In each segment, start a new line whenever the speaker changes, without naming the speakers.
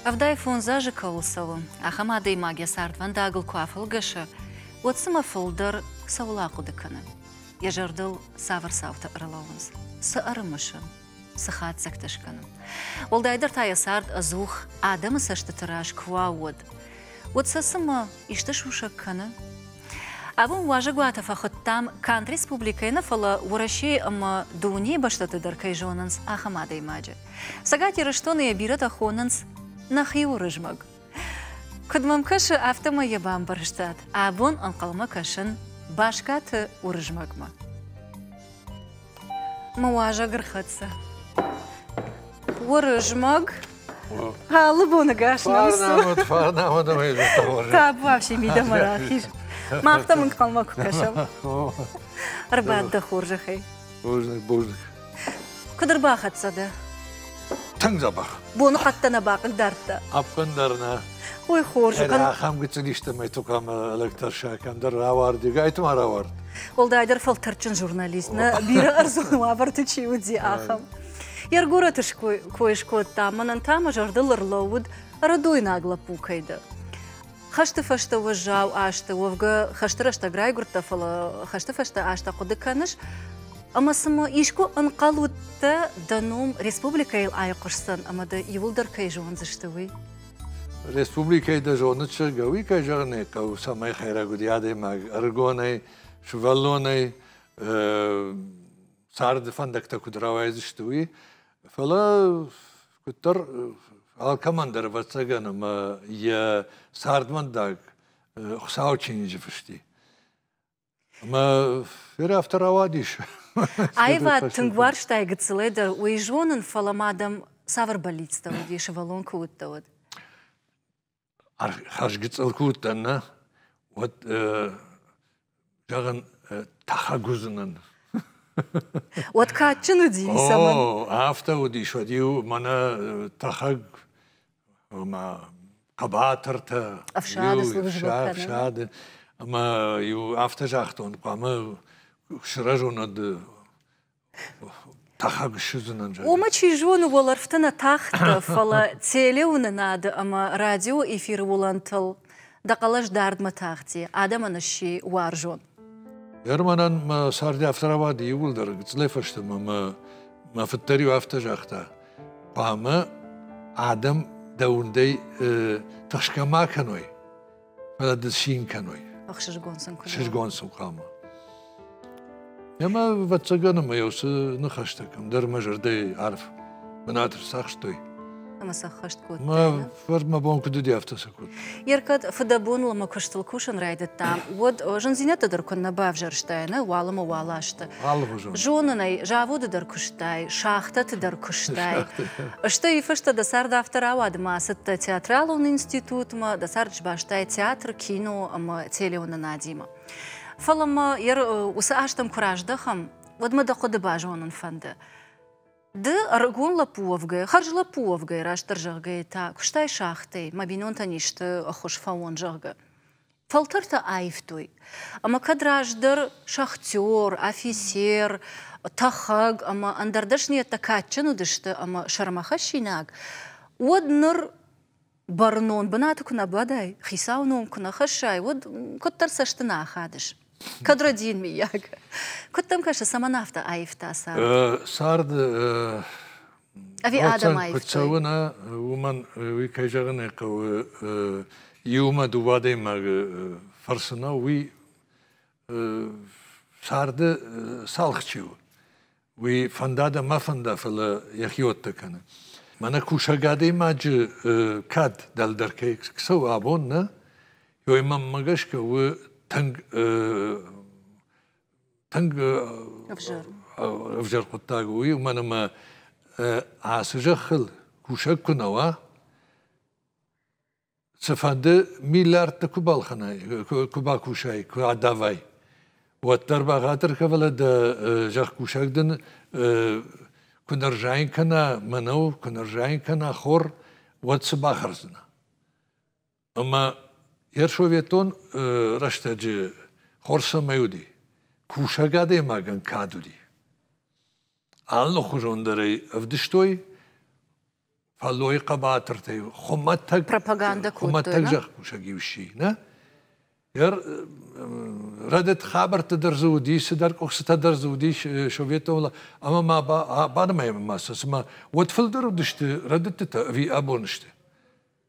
Ӕвдай фондз азы кӕуыл цӕуы, ахӕм адӕймаг йӕ цардвӕндагыл куы афӕлгӕсы, уӕд цымӕ фылдӕр цӕуыл ахъуыды кӕны? Йӕ зӕрдыл цавӕр цаутӕ ӕрлӕууынц? Цы ӕрымысы? Цы хатдзӕгтӕ скӕны? Уӕлдайдӕр та йӕ цард ӕдзух адӕмы цӕстыты раз куы уа, уӕд. Уӕд сӕ цымӕ исты сусӕг кӕны? Абон уазӕгуаты фӕхуыдтам, канд республикӕйы нӕ, фӕлӕ Уӕрӕсейы ӕмӕ дунейы бӕстӕты дӕр кӕй зонынц, ахӕм адӕймаджы. Цӕгат Ирыстоны йӕ бирӕтӕ хонынц нӕхи Уырызмӕг. Куыд мӕм кӕсы, афтӕмӕй йӕ бамбӕрстат. Абон ӕнхъӕлмӕ кӕсын бӕскӕты Уырызмӕгмӕ. Мӕ уазӕг ӕрхӕццӕ. Уырызмӕг. Алы боны гӕс намыс у. Фарнамад ӕмӕ
зӕдтӕ Табуафси мидӕмӕ
рахиз. Мах та мын ӕнхъӕлмӕ куы кӕсӕм. Ӕрбад дӕ хорзӕхӕй. Бузныг, бузныг.
Куыд
ӕрбахӕццӕ дӕ? Тынг
дзӕбӕх. Боныхъӕдтӕ нӕ
бахъил дардта? Ӕппындӕр нӕ.
Ой, хорз.
Ӕры ахӕм гыццылистӕмӕй
тукамӕ лӕг тӕрса, кӕмдӕр рауардыг, ай та ма рауард. Уӕлдайдӕр
фӕлтӕрдджын журналист, нӕ бирӕ ӕрдзон уавӕрты чи уыди, ахӕм. Йе ргорӕты кой скодта, мӕнӕн та мӕ зӕрдыл ӕрлӕууыд, ӕрыдойнаг лӕппу кӕй дӕ. Хӕсты фӕстӕ уӕззау азты уӕвгӕ хӕсты рӕстӕг райгуырдтӕ, фӕлӕ хӕсты фӕстӕ азтӕ хъуыды кӕныс, ӕмӕ цымӕ искуы ӕнхъӕл уыдтӕ, дӕ ном республикӕйыл айхъуысдзӕн ӕмӕ дӕ иуылдӕр кӕй зондзысты, уый?
Республикӕйы дӕ зоны чызгӕ, уый кӕй зӕгъын ӕй хъӕуы, цӕмӕй хӕйрӕг уыди адӕймаг, ӕрыгонӕй, сывӕллонӕй царды фӕндӕгтӕ куыд рауайдзысты, уый. Фӕлӕ Куыддӕр алкӕмӕн дӕр, ӕвӕццӕгӕн, ӕмӕ йӕ цардвӕндаг Хуыцауы чиныджы фыст и. Ӕмӕ феры афтӕ рауадис. Аивад
тынг уарзтай гыццылӕй дӕр, уый зонын, фӕлӕ ма дӕм цавӕр бӕллицтӕ уыди, сывӕллон куы уыдтӕ, уӕд?
хӕрзгӕ цъӕл куы уыдтӕн, нӕ, уӕд зӕгъын, тӕхӕг уыдзынӕн.
Уӕд кадджын уыди цӕмӕн? О, афтӕ
уыдис, уӕд-иу мӕнӕ тӕхӕг хъӕбатыртӕ. Ӕфсады
службӕ кӕнын.
Ӕмӕ-иу афтӕ загътон, хъуамӕ сырӕзон ӕд Омӕ чи зоны уӕлӕрвты
нӕ тахты, фӕлӕ телеуынынады ӕмӕ радиоэфиры уылӕнтыл дӕ хъӕлӕс дардмӕ тахти, адӕмӕн сси уарзон. Германӕн
мӕ царды афтӕ рауади иууылдӕр гыццылӕй фӕстӕмӕ мӕ мӕ фыддӕр-иу афтӕ загъта: хъуамӕ адӕм дӕ уындӕй тыхсгӕ ма кӕной. Ды цин кӕной. Ӕхсызгон сын куы
Сызгон сын хъуамӕ.
Ӕмӕ, ӕвӕццӕгӕн, ӕмӕ йӕ уыцы ныхӕстӕ кӕмдӕр мӕ зӕрдӕйы арф бынат ӕрцахстой. Ӕмӕ сӕххӕст
кодтай. Мӕ фӕрнмӕ
бон куыд уыди, афтӕ сӕ кодта. Еркӕд
фыдӕбоныл мӕ куыстыл кусын райдыдтам, уӕд зындзинӕдтӕ дӕр куыннӕ бавзӕрстай, нӕ уӕлӕмӕ уӕлӕ сты. Алыгъуызон.
Зонын ӕй, заводы
дӕр куыстай, шахтӕты дӕр куыстай. Стӕй фӕстӕ дӕ цард афтӕ рауад ӕмӕ ацыдтӕ театралон институтмӕ, дӕ цард сбастай театр, кино ӕмӕ телеуынынадимӕ. Фӕлӕ ма уыцы азтӕм куы раздӕхӕм, уӕд мӕ дӕ хъуыды базонын фӕнды. Ды ӕрыгон лӕппу уӕвгӕ, хӕрз лӕппу уӕвгӕ, растдӕр зӕгъгӕ та куыстай шахтӕй, мӕ бинонтӕн исты хуыз фӕуон, зӕгъгӕ. Фӕлтӕртӕ аивтой. Ӕмӕ кӕд раздӕр шахтер, афицер, тӕхӕг ӕмӕ ӕндӕр дӕсныйӕдтӕ кадджын уыдысты ӕмӕ сӕрмӕхӕссинаг, уӕд ныр бӕрнон бынаты куы нӕ бадай, хицауы ном куы нӕ хӕссай, уӕд куыддӕр цӕсты нӕ ахадыс. Кӕд Родин, миййаг? Куыд дӕм кӕсы, цӕмӕн афтӕ аивта цард? Царды ӕви адӕмӕй куы цӕуы нӕ
уымӕн уый кӕй зӕгъын ӕй хъӕуы иумӕ дыууӕ адӕймагы фӕрцы нӕ уый царды цалхчы у уый фӕнда мӕ фӕнда фӕлӕ йӕхиуӕттӕ кӕны мӕнӕ кусӕг адӕймаджы кад дӕлдӕр кӕй цӕуы абон нӕ ой мӕнмӕ гӕсгӕ у тынг Тынг ӕвзӕр ӕвзӕр хъуыддаг у, уымӕн ӕмӕ ацы зӕххыл кусӕг куы нӕ уа, цыфӕнды миллиардты куы балхӕнай, куы бакусай, куы адавай, уӕддӕр бӕгъатыр кӕ фӕлӕ дӕ зӕхкусӕг дын куы нӕ рзайын кӕна мӕнӕу, куы нӕ рзайын кӕна хор, уӕд цы бахӕрдзынӕ? Ӕмӕ йе рсоветтон рӕстӕджы хор цӕмӕй уыди, кусӕг адӕймагӕн кад уыди. Алыхуызон дӕр ӕй ӕвдыстой, фӕллойы хъӕбатыртӕй хуымӕтӕг пропагандӕ хуымӕтӕг
зӕхкусӕг-иу
сси, нӕ? Рӕдыд хабӕртты дӕр дзы уыди, цыдӕр къуыхцытӕ дӕр дзы уыдис советон ӕмӕ ма банымайӕм ма сӕ, цыма уӕд фылдӕр уыдысты рӕдыдтытӕ ӕви абон сты.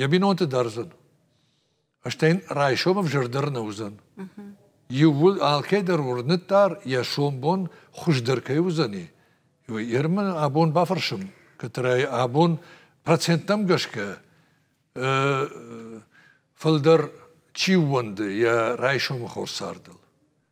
йӕ бинонты дӕрдзӕн. Стӕй йын райсом ӕвзӕр дӕр нӕ уыдзӕн. Иууыл алкӕдӕр уырныддар йӕ сомбон хуыздӕр кӕй уыдзӕни. Ермӕ абон бафӕрсым, которая абон проценттӕм гӕсгӕ фылдӕр чи ууӕнды йӕ райсомы хорз цардыл.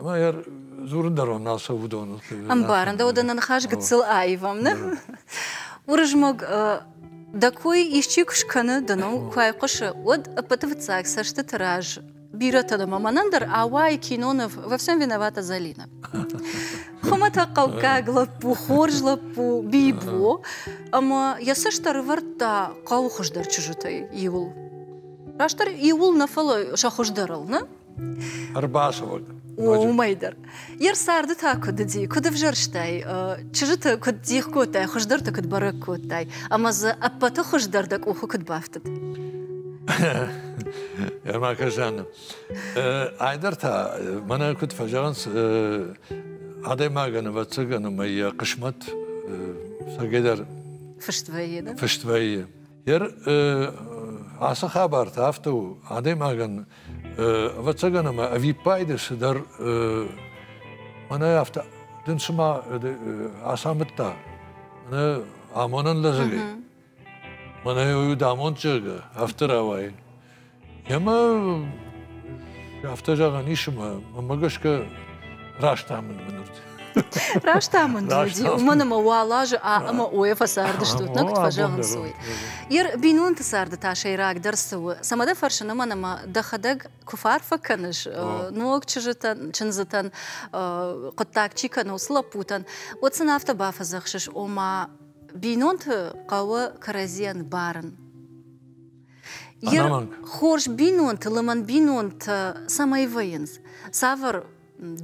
Ӕмӕ йӕ дзурын дӕр уын ацӕуы уыдоныл. Ӕмбарын дӕ, уыдон
ныхас гыццыл аивам, нӕ? Уырызмӕг, дӕ кой исчи куы скӕны, ды ныл куы айхъуысы, уӕд ӕппӕты фыццаг цӕстыты раз бирӕтӕн ӕмӕ мӕнӕн дӕр ауайы Кинонов «Во всем виновата Залина». Хуымӕтӕгхъӕуккаг лӕппу, хорз лӕппу Бибо, ӕмӕ йӕ цӕст ӕрывӕрдта хъӕуы хуыздӕр чызджытӕй иуыл. Растдӕр иуыл нӕ, фӕлӕ сӕ хуыздӕрыл, нӕ? Ӕрбасывӕг.
Уымӕй
дӕр. Йе рцарды та куыд уыди, куыд ӕвзӕрстай, чызджыты куыд дих кодтай, хуыздӕрты куыд бӕрӕг кодтай, ӕмӕ дзы ӕппӕты хуыздӕр дӕ къухы куыд бафтыд?
Ермакажан, айдӕр та мӕнӕ куыд фӕзӕгъынц, адӕймагӕн, ӕвӕццӕгӕн, ӕмӕ йӕ хъысмӕт сӕгӕйдӕр фыст вӕййы, да? Фыст вӕййы. Ер ацы хабарты афтӕ у, адӕймагӕн, ӕвӕццӕгӕн ӕмӕ ӕвиппайды цыдӕр мӕнӕ афтӕ дын цыма ацамыдта мӕнӕ амонӕн лӕдзӕгӕй. Мӕнӕ уый уыд амонд, зӕгъгӕ, афтӕ рауайын. Ӕмӕ афтӕ зӕгъӕн ис ӕмӕ мӕ гӕсгӕ раст амынд мын уыд. Раст
амынд уыди, уымӕн ӕмӕ уал азы ӕмӕ ОЭФ фӕцардыстут, нӕ куыд фӕзӕгъынц, уый. Ир, бинонты царды та сӕйрагдӕр цы у? Цӕмӕ дӕ фӕрсын уымӕн ӕмӕ дӕхӕдӕг куы фӕарфӕ кӕныс ног чызджытӕн, чындзытӕн, хъуыддаг чи кӕны, уыцы лӕппутӕн, уӕд сын афтӕ бафӕдзӕхсыс, ома бинонты хъӕуы кӕрӕдзийӕн барын. хорз бинонты лымӕн бинонтӕ цӕмӕй вӕййынц цавӕр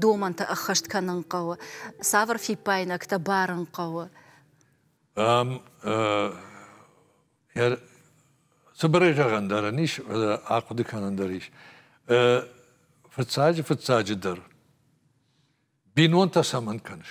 домӕнтӕ ӕххӕст кӕнын хъӕуы цавӕр фиппайнӕгтӕ барын хъӕуы
цыбырӕй зӕгъӕн дӕр ын ис ахъуыды кӕнӕн дӕр ис фыццаджы фыццаджы дӕр бинонтӕ цӕмӕн кӕныс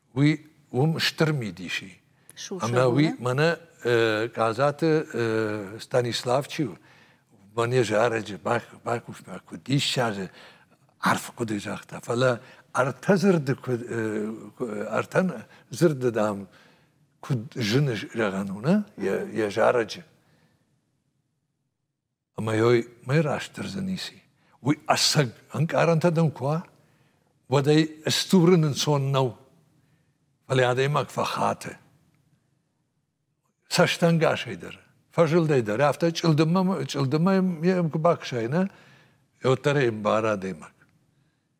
уый уым стыр мидис и. Ӕмӕ уый мӕнӕ Казаты Станислав чи у, мӕне зарӕджы бакуывта куыд диссаджы арф хъуыды загъта, фӕлӕ ӕртӕ дзырды куыд ӕртӕ дзырды дам куыд зыны зӕгъӕн уыны йӕ зарӕджы. Ӕмӕ йой мӕй растдӕрзӕ ницы. Уый ӕцӕг ӕнкъарӕнтӕ дӕм куы уа, уӕд ӕй стурын ӕнцон нӕу. Фӕлӕ адӕймаг фӕхаты. Цӕстӕнгасӕй дӕр, фӕзылдӕй дӕр, афтӕ чъылдыммӕ чъылдыммӕ йӕм куы бакӕсай, нӕ, уӕддӕр ӕй ӕмбары адӕймаг.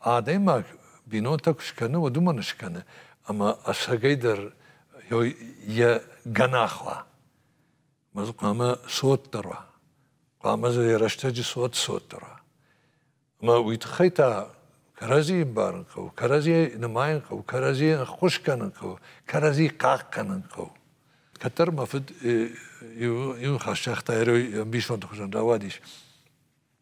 Адӕймаг бинонтӕ куы скӕны, уӕд уымӕн скӕны, ӕмӕ ӕцӕгӕй дӕр йӕ гӕнах уа. Мӕ хъуамӕ цотдӕр уа. Хъуамӕ дзы йӕ рӕстӕджы цот цотдӕр уа. Ӕмӕ уый тыххӕй та кӕрӕдзийы ӕмбарын хъӕуы, кӕрӕдзийӕ нымайын хъӕуы, кӕрӕдзийӕ ӕххуыс кӕнын хъӕуы, кӕрӕдзи хъахъ кӕнын хъӕуы. Кӕддӕр мӕ фыд иу хӕс загъта, ӕрой ӕмбисонды хуызӕн рауадис.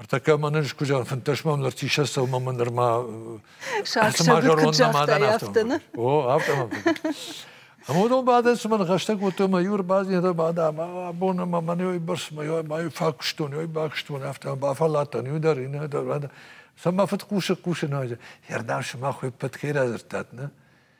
Ӕртӕккӕ мӕнӕ скуызар фынддӕсмӕ ныр тисӕ сӕумӕ нырма
О, афтӕ
Ӕмӕ уыдон бадӕн цымӕ ныхӕстӕ кодтой ӕмӕ иу ӕрбадзинӕдта бада мӕ абон ӕмӕ мӕн ой бӕрц мӕ ой фӕкуыстон ой бакуыстон афтӕ бафӕлладтан иу дӕр иннӕ дӕр цӕмӕ фыд хъусы хъусын ӕрдам сымах ой ппӕт хей радзырдтат нӕ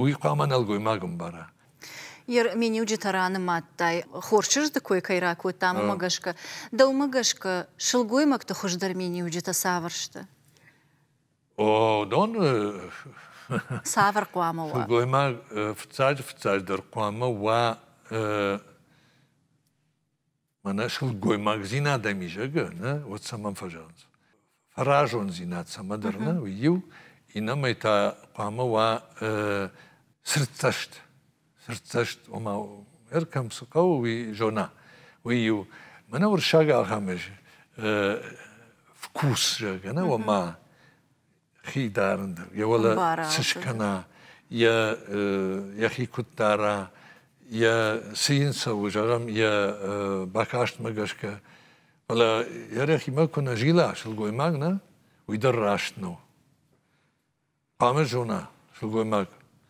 Уый хъуамӕ нӕлгоймаг ӕмбара.
Ермениуджытӕ ранымадтай, хорз чызджыты кой кӕй ракодтам, уымӕ гӕсгӕ. Дӕумӕ гӕсгӕ, сылгоймӕгты хуыздӕр миниуджытӕ цавӕр сты?
О, доны
Цавӕр хъуамӕ уа? сылгоймаг
фыццаджы-фыццаджыдӕр хъуамӕ уа Мӕнӕ сылгоймагдзинад ами зӕгӕ, нӕ, уӕд цӕмӕн фӕзӕгъынц? Фӕразондзинад цӕмӕдӕр, нӕ, уый иу, иннӕмӕй та хъуамӕ уа цырддзӕст. Цырддзӕст, ома, ӕркӕм цы хъӕуы, уый зона. Уый иу. Мӕнӕ уырыссаг ахӕм вкус, зӕгӕ, нӕ, ома хи дарын дӕр, йӕ уӕлӕ цы скӕна, йӕ йӕхи куыд дара, йӕ цы йын цӕуы, зӕгъӕм, йӕ бакастмӕ гӕсгӕ. Фӕлӕ йӕ рӕхимӕ куы нӕ зила сылгоймаг, нӕ, уый дӕр раст нӕу. Хъуамӕ зона сылгоймаг,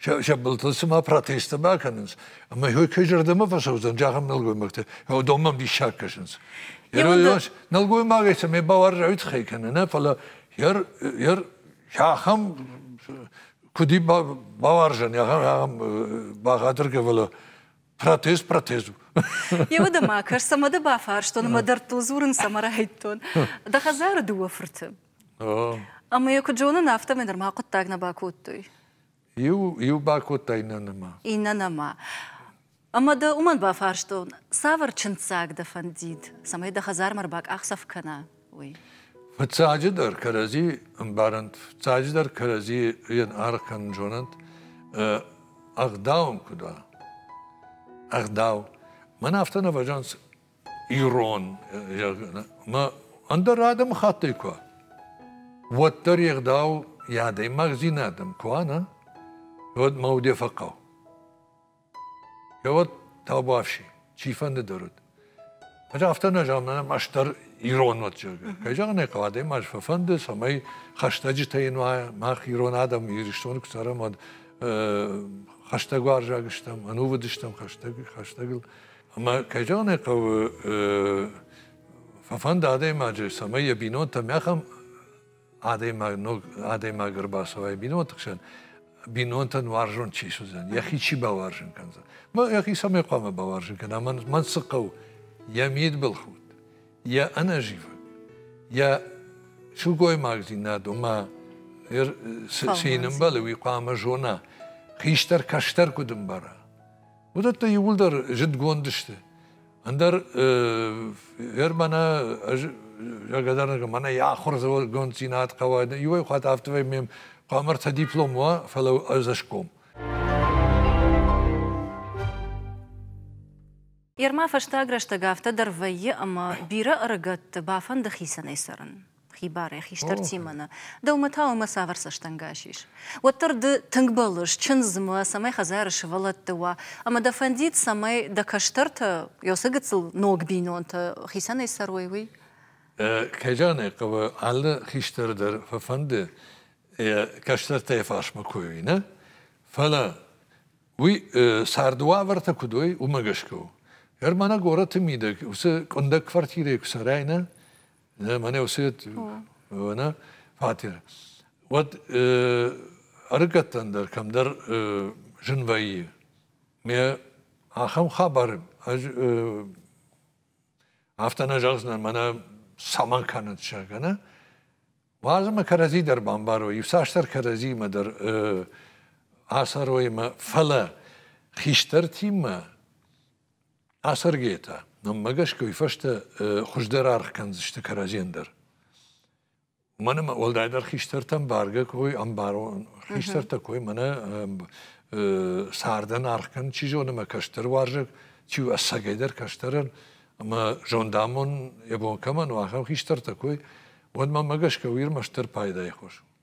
сӕ, сӕ былтыл цыма протесттӕ бакӕнынц. Ӕмӕ ой кӕй зӕрдӕмӕ фӕцӕудзӕн, зӕгъӕм нӕлгоймӕгтӕ, уыдон мӕм диссаг кӕсынц. Нӕлгоймагӕй сӕ ме бауарзӕй тыххӕй кӕнӕ нӕ, фӕлӕ ер, ер ахӕм куыди бауарзӕн, ахӕм, ахӕм бӕгъӕдыргӕвӕлӕ протест, протест у.
Йеуӕд ӕмӕ кӕс, ӕмӕ дӕ бафарстон, ӕмӕ дӕрдтыл дзурын цӕмӕ райдтон. Дӕ хӕдзары дыууӕ фырты. Ӕмӕ йӕ куыд зонын, афтӕмӕй нырма хъуыддаг нӕ бакодтой.
Иу, иу бакодта иннӕмӕ. Иннӕмӕ.
Ӕмӕ дӕ уымӕн бафарстон, цавӕр чындздзаг дӕ фӕндид, цӕмӕй дӕ хӕдзармӕ ӕрбакъахдзӕф кӕна, уый? Фыццаджыдӕр
кӕрӕдзи ӕмбарӕнт, фыццаджыдӕр кӕрӕдзи йын аргъ кӕнын зонӕнт, ӕгъдау ӕм куыд уа. Ӕгъдау. Мӕн афтӕ нӕ фӕзӕнт, ирон, ӕмӕ ӕндӕр адӕмыхаттӕй куы уа, уӕддӕр йе гъдау йӕ адӕймагдзинадӕн куы уа, нӕ, уӕд мӕ уде фӕхъӕуы. Йӕуӕд табуафси, чи фӕндыдӕр уыд. Ӕз афтӕ нӕ зӕгъын, ӕнӕ ӕз дӕр ирон уӕд, зӕгъгӕ. Кӕй зӕгъын ӕй хъӕуы, адӕймаг фӕфӕнды, цӕмӕй хӕстӕджытӕ йын уа, мах ирон адӕм Ирыстоны куы цӕрӕм, уӕд хӕстӕгуарзаг стӕм, ӕнувыд стӕм хӕстӕг, хӕстӕгыл. Ӕмӕ кӕй зӕгъын хъӕуы, фӕфӕнды адӕймаджы, цӕмӕй йӕ бинонтӕм ахӕм адӕймаг, ног адӕймаг ӕрбацӕуай бинонты хсӕн, бинонтӕн уарзон чи суыдзӕн, йӕхи чи бауарзын кӕндзӕн. Мӕ йӕхи цӕмӕй хъуамӕ бауарзын кӕна, мӕн цы хъӕуы, йӕ мидбылхудт, йӕ ӕнӕзивӕг, йӕ сылгоймагдзинад, ома, цы ӕмбӕлы, уый хъуамӕ зона, хистӕр кӕстӕр куыд ӕмбара. уыдӕттӕ иууылдӕр зыдгонд сты. Ӕндӕр ер мӕнӕ ӕз благодарна мӕнӕ йӕ ахуыргонддзинад хъӕуа иуӕй хатт афтӕ ме хъуамӕ ӕртӕ диплом уа, фӕлӕ ӕз ӕсгом.
Ерма фӕстаг рӕстӕг афтӕ дӕр вӕййы, ӕмӕ бирӕ ӕрыгӕтты бафӕнды хицӕнӕй цӕрын. хибарӕй хистӕр Тимоны. Дӕумӕ та уымӕ цавӕр цӕстӕнгас ис? Уӕддӕр ды тынг бӕллыс чындзмӕ, цӕмӕй хӕдзары сывӕллӕтты уа, ӕмӕ дӕ фӕндид, цӕмӕй дӕ кӕстӕртӕ Ёсы гыццыл ног бинонтӕ хицӕнӕй цӕрой, уый? Кайраны
хъӕуы алы хистӕр дӕр фӕфӕнды йӕ кӕстӕртӕ йӕ фарсмӕ кой уый, нӕ? Фӕлӕ уый царды уавӕртӕ куыд уой, уымӕ гӕсгӕ у. Германы горӕты мидӕг уыцы къуындӕг квартирӕйы куы цӕрай, нӕ, Мӕнӕ уыцы вона фатер. Уӕд ӕрыгӕттӕн дӕр кӕмдӕр зын вӕййы. Ме ахӕм хабар ӕз афтӕ нӕ зӕгъдзынӕн, мӕнӕ цӕмӕн кӕнӕт сӕ кӕнӕ. Уадзы мӕ кӕрӕдзи дӕр бамбарой, иуцасдӕр кӕрӕдзимӕ дӕр ацӕрой мӕ, фӕлӕ хистӕртимӕ Ацӕргӕтӕ. Мӕнмӕ гӕсгӕ уый фӕстӕ хуыздӕр аргъ кӕндзысты кӕрӕдзийӕн дӕр. Мӕн ӕмӕ уӕлдайдӕр хистӕртӕн бӕргӕ кой ӕмбарон хистӕртӕ кой мӕнӕ цардӕн аргъ кӕн, чи зоны мӕ кӕстӕр уарзӕг, чи у ӕцӕгӕйдӕр кӕстӕрӕн ӕмӕ зондамон йӕ бон кӕмӕн у, ахӕм хистӕртӕ кой, уӕд мӕнмӕ гӕсгӕ уый ӕрмӕстдӕр пайдайы хос у.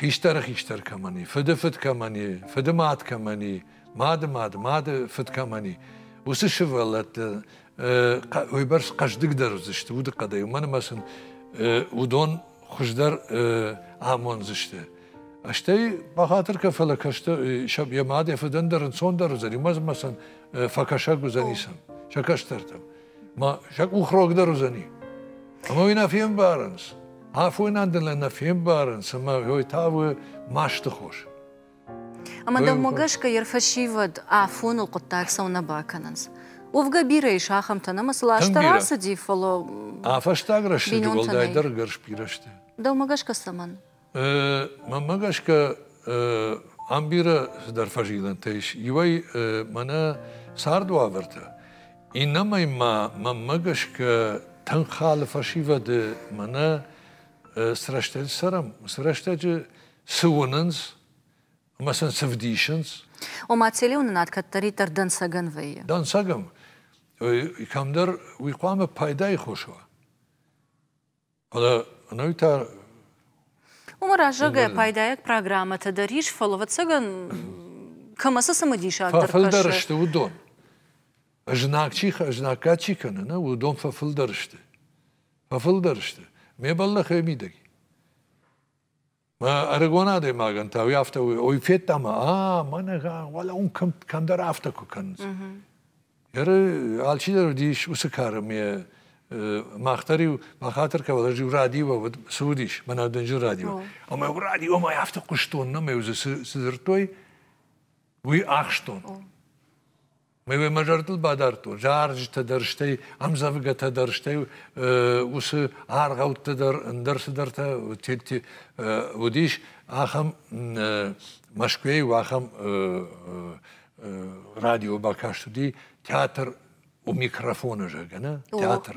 хистӕры хистӕр кӕмӕн и, фыды фыд кӕмӕн и, фыды мад кӕмӕн и, мады мад, мады фыд кӕмӕн и, уыцы сывӕллӕтты уыйбӕрц хъӕздыгдӕр уыдзысты удыхъӕдӕй, уымӕн ӕмӕ сын уыдон хуыздӕр амондзысты. Стӕй бахатыр кӕ, фӕлӕ кӕстӕр йӕ мад йӕ фыдӕн дӕр ӕнцондӕр уыдзӕн, уымӕ ӕмӕ сын фӕкӕсӕг уыдзӕнис сӕ кӕстӕртӕм. ма сӕ къух рогдӕр уыдзӕни. Ӕмӕ уый нӕ фембарынц. Афонӕн дӕр нӕ фембарынц, ӕмӕ уый та у масты хос.
Ӕмӕ дӕумӕ гӕсгӕ йӕ рфӕсивӕд афоныл хъуыддаг цӕуы нӕ бакӕнынц? Уӕвгӕ бирӕ ис ахӕмтӕн, ӕмӕ сыл азтӕ рацыди, фӕлӕ. А фӕстаг
рӕстӕджы уӕлдайдӕр ӕгӕр сбирӕ сты. Дӕумӕ гӕсгӕ
цӕмӕн?
Мӕнмӕ гӕсгӕ ам бирӕ цыдӕр фӕзилӕнтӕ ис. Иуӕй мӕнӕ цард уавӕртӕ, иннӕмӕй ма мӕнмӕ гӕсгӕ тынг халы фӕсивӕды мӕнӕ цы рӕстӕджы цӕрӕм, цы рӕстӕджы цы уынынц ӕмӕ сын цы вдисынц. Ома
телеуынынад кӕддӕриддӕр дӕнцӕгӕн вӕййы. Дӕнцӕгӕн.
Кӕмдӕр уый хъуамӕ пайдайы хос уа. Уымӕ
раззагӕй пайдайаг программӕтӕ дӕр ис, фӕлӕ ӕвӕццӕгӕн кӕмӕ цы цымыдисаг дӕр фӕфылдӕр сты, уыдон.
Знаг чи знаггад чи кӕны, нӕ, уыдон фӕфылдӕр сты. Фӕфылдӕр сты. Ме бӕллӕх ӕй мидӕг. ӕрыгон адӕймагӕн та уый афтӕ уый федта ӕмӕ а мӕнӕ уӕлӕ уын кӕмдӕр афтӕ куы кӕнынц ӕры алчидӕр уыдис уыцы кары ме мах дӕр-иу бахатыр кӕвал ӕз-иу радиовӕд цы уыдис мӕнӕ дынджыр радио ӕмӕ иу радиомӕ афтӕ хъуыстон ӕмӕ-иу дзы цы дзырдтой уый ахстон Ме мӕ зӕрдыл бадардтон, зарджытӕ дӕр, стӕй ӕмдзӕвгӕтӕ дӕр, стӕй уыцы аргъӕуттӕ дӕр, ӕндӕр цыдӕртӕ уыдис, ахӕм Мӕскуыйӕй ахӕм радио бакаст уыди театр у микрофоны зӕггӕ, нӕ? Театр.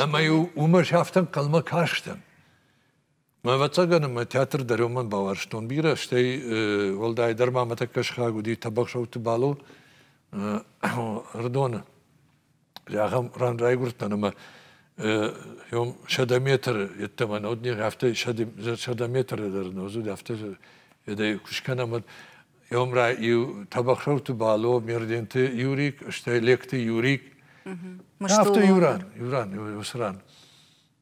Ӕмӕ-иу уымӕ афтӕ ӕнхъӕлмӕ кастӕн. Ӕвӕццӕгӕн мӕ театр дӕр уымӕн бауарзтон бирӕ, стӕй уӕлдайдӕр ма мӕ тӕккӕ сыхаг уыди Тӕбӕгсӕуты Бало Рдоны. Зӕгъӕм, ран райгуырдтӕн ӕмӕ ем сӕдӕ метры йеддӕмӕ нӕ уыд не, афтӕ сӕдӕ метры дӕр нӕ уыд, афтӕ едӕй куы скӕнӕм, уӕд ем ра иу Тӕбӕгсӕуты Бало, Мерденты Юрик, стӕй Лекты Юрик. Афтӕ иу ран, иу ран, уыцы ран.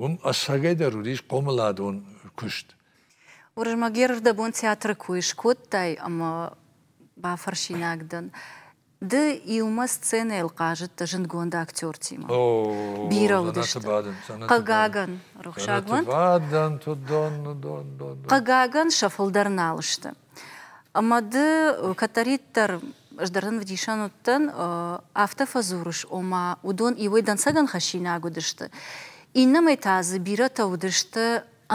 Уым ӕцӕгӕйдӕр уыдис хъомыладон куыст. Уырызмӕгеров
дӕ бон театры кой скодтай ӕмӕ бафӕрсинаг дӕн, ды иумӕ сценӕйыл хъазыдтӕ зындгонд актертимӕ. Бирӕ уыдысты. Хъыгагӕн, рухсаг уӕнт. Бадӕн, дон, дон, дон. Хъыгагӕн, сӕ фылдӕр нал сты. Мады кӕддӕриддӕр ӕз дӕр дын ӕвдисӕн уыдтӕн, афтӕ фӕдзурыс, ома уыдон иуӕй дӕнцӕгӕн хӕссинаг уыдысты, иннӕмӕй та дзы бирӕтӕ уыдысты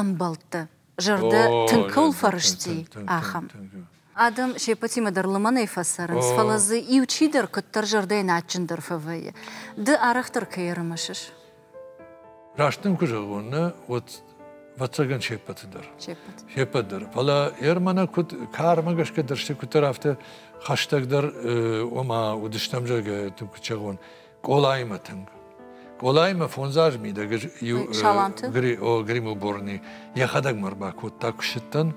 ӕмбӕлттӕ, зӕрдӕ тынг кӕуыл фӕрысти, ахӕм. Адӕм се ппӕтимӕ дӕр лымӕнӕй фӕцӕрынц, фӕлӕ дзы иу чидӕр куыддӕр зӕрдӕйӕн адджындӕр фӕвӕййы. Ды арӕхдӕр кӕй ӕрымысыс?
Раст дын куы зӕгъон, нӕ, уӕд вӕццӕгӕн се ппӕты дӕр. Се ппӕт. Се ппӕт дӕр. Фӕлӕ Ермана куыд, кармӕ гӕсгӕ дӕр куыддӕр афтӕ хӕстӕгдӕр, ома уыдыстӕм, зӕгъгӕ, тынг куыд зӕгъон, Къолаимӕ тынг. Къолаимӕ фондзаз мидӕг иу гримуборный йӕхӕдӕг мӕ рбакодта, куы ссыдтӕн,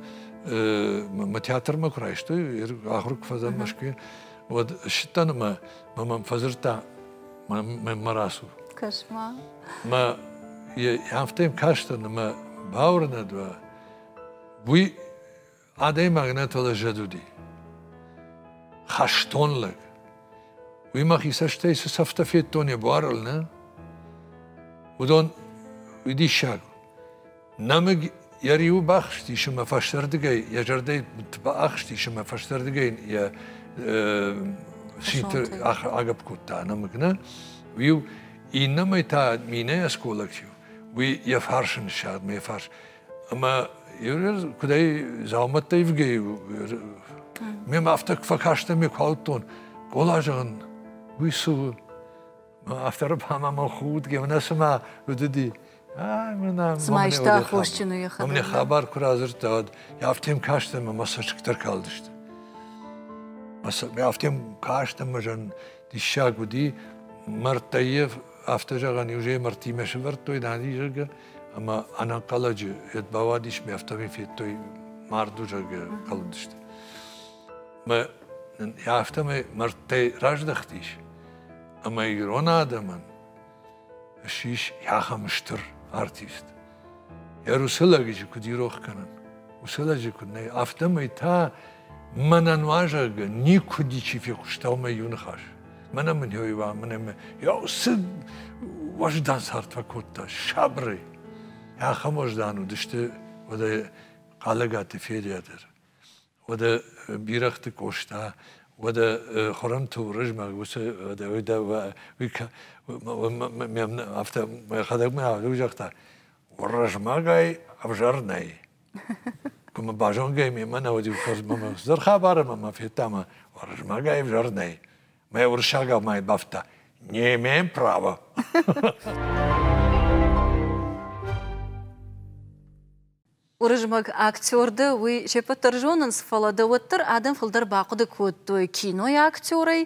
мӕ театрмӕ куы райстой, ахуыр куы фӕдзӕн Мӕскуыйы, уӕд ссыдтӕн ӕмӕ мӕ мӕм фӕдзырдта мӕнмӕ рацу. Кӕс-ма. Мӕ афтӕ йӕм кастӕн, ӕмӕ бауырнӕд уа, уый адӕймаг нӕ фӕлӕ зӕд уыди. Хӕстон лӕг. Уый мӕхи цӕстӕй цы цӕфтӕ федтон йӕ буарыл, нӕ? Уыдон, уый диссаг. Нӕмыг йӕ риуы бахызтис ӕмӕ фӕстӕрдыгӕй йӕ зӕрдӕйы будты баахстис ӕмӕ фӕстӕрдыгӕй йын йӕ синты агӕпп кодта нӕмыг нӕ уый иннӕмӕй та минӕй осколочев уый йӕ фарсы ныссагъд мӕ фарс ӕмӕ куыдӕй дзаумӕттӕ ивгӕй у ме афтӕ фӕкастӕн ме куы ауыдтон къола зӕгъын уый цы у Автор ӕмӕ мыл худгӕ, мӕнӕ цыма уыдыди. Цыма
иста аххосджыны йӕхӕдӕг. Мӕ хабар куы радзырдта,
уӕд афтӕм кастӕн, мӕ цӕсгтӕ калдысты. Афтӕм кастӕн, мӕ зӕн диссаг уыди. Мӕрдтӕ йе афтӕ зӕгъӕн, иужӕй мӕрдтимӕ сывӕрдтой, нани, зӕгъгӕ, ӕмӕ ӕнӕнхъӕлӕджы йед бауадис, ми афтӕмӕй федтой марду, зӕгъгӕ, калдысты. Мӕ афтӕмӕй мӕрдтӕй раздӕхтис. ӕмӕ ирон адӕмӕн ссис ахӕм стыр артист. Йӕ уыцы лӕгиджы куыд ирох кӕнын, уыцы лӕджы куыд нӕй, афтӕмӕй та мӕнӕ нуазӕгы никуы ничи фехъуыста уымӕй иу ныхас. Мӕнӕ мын йойва, мӕнӕ мӕ йа уыцы уӕздан цард фӕкодта сабырӕй. Ахӕм уӕздан уыдысты уӕдӕ Хъалӕгаты Ферия дӕр. Уӕдӕ бирӕгъты Къоста, уӕдӕ Хуырымты Уырызмӕг уыцы мӕм афтӕ мӕхӕдӕг мӕхӕдӕг загъта, Уырызмӕгӕй ӕвзӕр нӕй. Куы мӕ базонгӕ мемӕ нӕ уыд иу мӕ хуыздӕр хабар ӕмӕ мӕ федта ӕмӕ Уырызмӕгӕй ӕвзӕр нӕй. Мӕ уырыссагау мӕй бафтыдта. Не имеем права.
Уырызмӕг актер дӕ, уый се ппӕт дӕр зонынц, фӕлӕ дӕ уӕддӕр адӕм фылдӕр бахъуыды кодтой кинойы актерӕй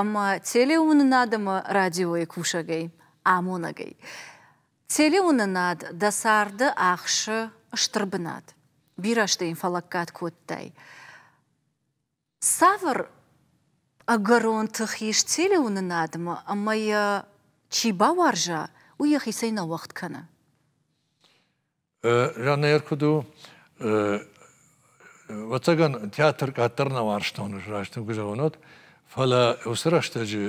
ӕмӕ телеуынынад ӕмӕ радиойы кусӕгӕй, амонӕгӕй. Телеуынынад дӕ царды ахсы стыр бынат. Бирӕ сты йын фӕлӕггад кодтай. Цавӕр ӕгӕрон тых ис телеуынынадмӕ ӕмӕ йӕ чи бауарза, уый йӕхицӕй нӕ уӕгъд кӕны?
Жаннӕйӕр куыд у, ӕвӕццӕгӕн театр къаддӕр нӕ уарзтон, раст тынг куы зӕгъынод, фӕлӕ уыцы рӕстӕджы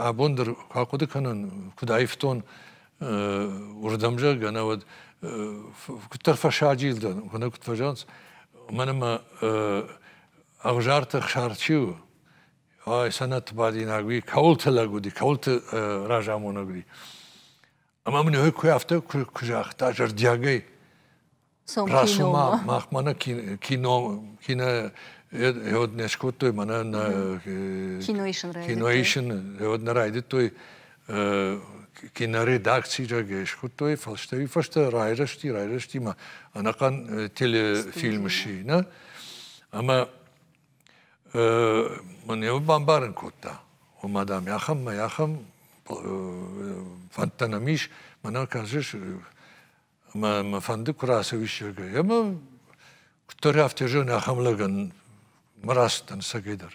абон дӕр куы ахъуыды кӕнон, куыд аивтон уырдӕм, зӕгъгӕ, науӕд куыддӕр фӕсаджил дӕн, куынӕ куыд фӕзӕгъынц, мӕн ӕмӕ Ӕгъзарты Хсар чи у? Ой, сӕнӕтбадинаг уи, кӕуылты лӕг уыди, кӕуылты разамонӕг уыди. Ӕмӕ мын ой куы афтӕ куы, куы загъта зӕрдиагӕй, Расу ма, мах мӕнӕ кино, кино йод не скодтой, мӕнӕ кино исын, кино исын йод не райдыдтой. киноредакцирӕгӕй схуыдтой фӕлстӕй фӕстӕ райрӕзти, райрӕзти ма ӕнӕхъӕн телефильмы сина, ӕмӕ мын йӕ бамбарын кодта, ома, дам, ахӕммӕ ахӕм фӕндтӕ нӕм ис, мӕнӕ кажешь, ӕмӕ мӕ фӕнды куы рацӕуиссӕгӕй, ӕмӕ куыддӕр афтӕ зӕгъын, ахӕм лӕгӕн мӕ рацыдтӕн сӕгӕй дӕр.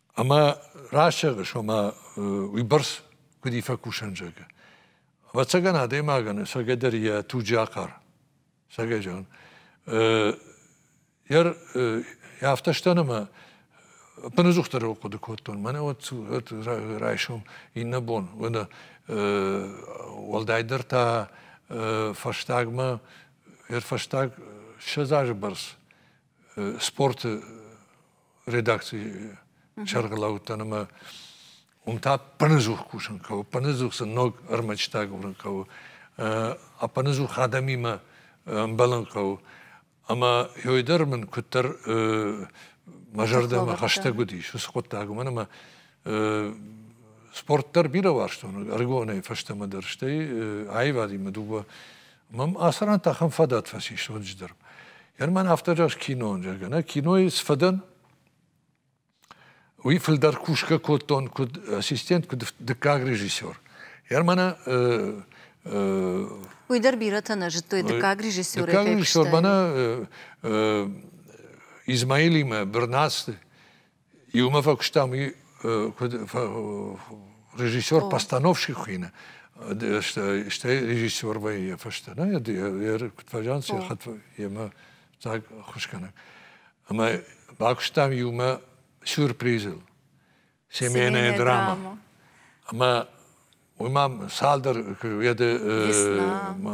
Ӕмӕ расӕгъы сомӕ уыйбӕрц, куыд и фӕкусӕн, зӕгъы. Ӕвӕццӕгӕн адӕймагӕн сӕгӕ дӕр йӕ туджы ахъар. Сӕгӕ зӕгъын. Йӕ афтӕ стӕн ӕмӕ ӕппыныдзухдӕр хъуыды кодтон. Мӕнӕ вот райсом иннӕ бон. Уӕлдайдӕр та фӕстагмӕ, ӕрфӕстаг ссӕдз азы бӕрц спорты редакцийы сӕргълӕууыдтӕн ӕмӕ уым та пӕнӕдзух кусын хъӕуы, пӕнӕдзух сын ног ӕрмӕджытӕ агурын хъӕуы, ӕппӕнӕдзух адӕмимӕ ӕмбӕлын хъӕуы. Ӕмӕ ёй дӕр мын куыддӕр мӕ зӕрдӕмӕ хӕстӕг уыдис уыцы хъуыддаг, уымӕн ӕмӕ спорт дӕр бирӕ уарзтон ӕрыгонӕй фӕстӕмӕ дӕр, стӕй аивадимӕ дыууӕ Мӕм ацы ран та ахӕм фадат фӕцис ноджы дӕр. Герман афтӕ зӕгъ кинон, зӕгъгӕ, нӕ кинойы цы фӕдӕн, уый фылдӕр кусгӕ кодтон куыд ассистент, куыд дыккаг режиссер. Германа
Уый дӕр бирӕтӕ нӕ зыдтой дыккаг режиссер. Дыккаг режиссер мӕнӕ
Измаилимӕ Бырнацты Иумӕ фӕкуыстам уый куыд режиссер, постановщик хуыйны, стӕй режиссер вӕййы йӕ фӕстӕ. Нӕ йӕ куыд фӕзӕгъынц, йӕ хатт йемӕ так хуызгӕнӕг. Ӕмӕ бакуыстам иумӕ сюрпризыл. Семейная драма. Ӕмӕ уый ма цалдӕр уӕды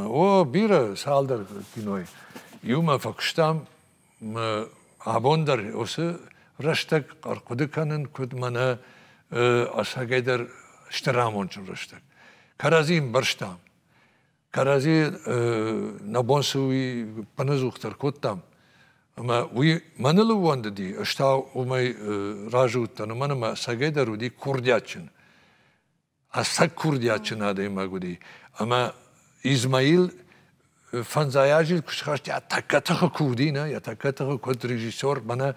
о бирӕ цалдӕр кинойы. Иумӕ фӕкуыстам абон дӕр уыцы рӕстӕг хъуыды кӕнын, куыд мӕнӕ ӕцӕгӕйдӕр стыр амонджын рӕстӕг. Кӕрӕдзи ӕмбӕрстам. Кӕрӕдзи нӕ бон цы уый пынызух дӕр кодтам. Ӕмӕ уый мӕныл ууӕндыди, ӕз та уымӕй разы уыдтӕн, уымӕн ӕмӕ ӕцӕгӕйдӕр уыди курдиатджын. ӕцӕг курдиатджын адӕймаг уыди. Ӕмӕ Измаил фӕндзай азы куы схаста тӕккӕ тыхы курди нӕ, йӕ тӕккӕ тыхы куыд режиссер, мӕнӕ